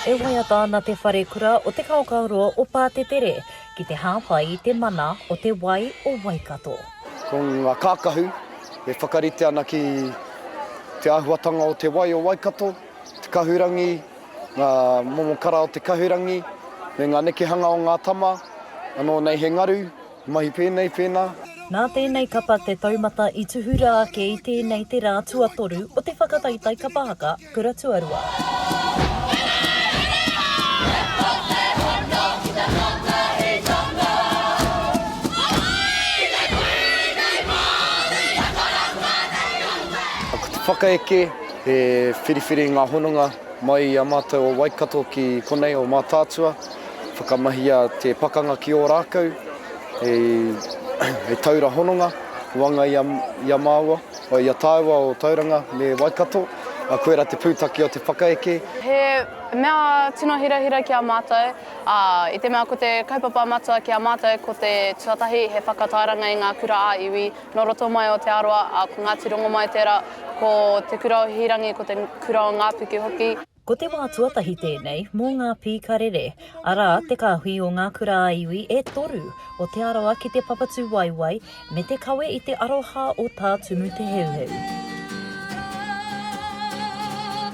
E waiata ana te wharekura o Te Kaokaoroa o Pātetere ki te hāpai i te mana o te wai o Waikato. Ko ngā kākahu e whakarite ana ki te āhuatanga o te wai o Waikato, te kahurangi, ngā momo kara o te kahurangi, me ngā nekehanga o ngā tama, anō nei he ngaru, he mahi pēnei, pēnā. Nā tēnei kapa te taumata i tuhura ake i tēnei te rā tuatoru o te whakataitai kapa haka kura tuarua. Ko te whakaeke He whiriwhiri ngā hononga mai i a mātou o Waikato ki konei o Mātaatua. Whakamahia te pakanga ki Ōrākau hei taura hononga i waenga i a māua, i a tāua o Tauranga me Waikato. Koirā te pūtake o te whakaeke. He mea tino hirahira ki a mātou, ā, i te mea ko te kaupapa matua ki a mātou ko te tuatahi he whakatairanga i ngā kura-ā-iwi, Nō roto mai o Te Arawa, ā, ko Ngāti Rongomai tērā, ko Te Kura o Hīrangi, ko Te Kura o Ngāpuke hoki. Ko te wā tuatahi tēnei mō ngā pīkarere, arā, te kāhui o ngā kura-a-iwi e toru o Te Arawa ki te Papatūwaiwai me te kawe i te aroha o Tā Tumu Te Heuheu.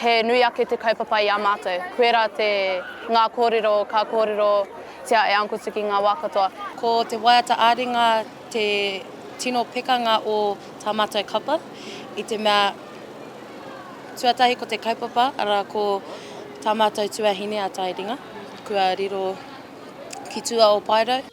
He nui ake te kaupapa i a mātou. Koirā te, ngā kōrero ka kōrerotia e Uncle Tiki ngā wā katoa. Ko te waiata ā-ringa te tino pekanga o tā mātou kapa, i te mea, tuatahi ko te kaupapa, arā, ko tā mātou tuahine a Taeringa, kua riro ki tua o Paerau.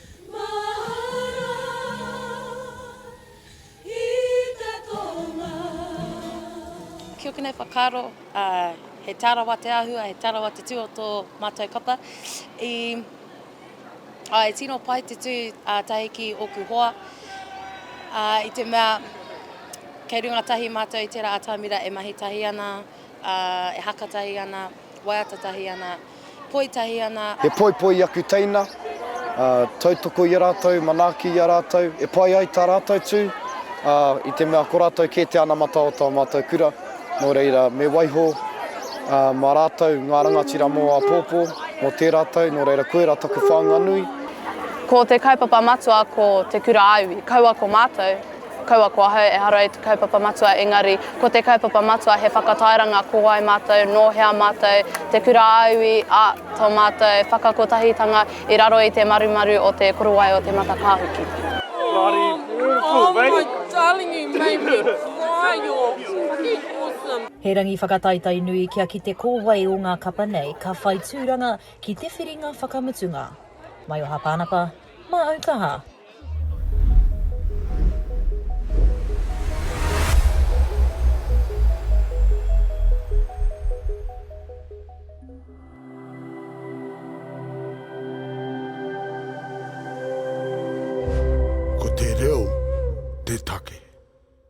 Mahara i te tonga. Kia ora, tēnei whakaaro, he tārawa te āhua, he tārawa te tū o tō mātou kapa. E tino pai te tū tahi ki ōku hoa, i te mea kei runga tahi mātou i tērā atamira e mahi tahi ana, e haka tahi ana, waiata tahi ana. poi tahi ana. He poipoi i aku teina, ā, tautoko i a rātou, manaaki i a rātou, e pai ai tā rātou tū, ā, i te mea ko rātou kē te anamata o tō mātou kura, nō reira, me waiho, ā, mā rātou ngā rangatira mō āpōpō, mō tērā tau, nō reira, koirā taku whāinga nui. Ko te kaupapa matua ko Te Kura Aui, kaua ko mātou. Kaua ko ahau ehara i te kaupapa matua engari ko te kaupapa matua he whakatairanga ko wai matou, no hea matou, te kura aui a to matou whakakotahitanga i raro i te marumaru o te korowai o te matakahuki. Bloody beautiful mate. Oh my darling you made me cry you're fucking awesome. He rangi whakataitai nui kia kite ko wai o ngā kapa nei ka whai tūranga ki te whiringa whakamutunga. Maioha Pānapa. Mā au kaha. Ko te reo te take.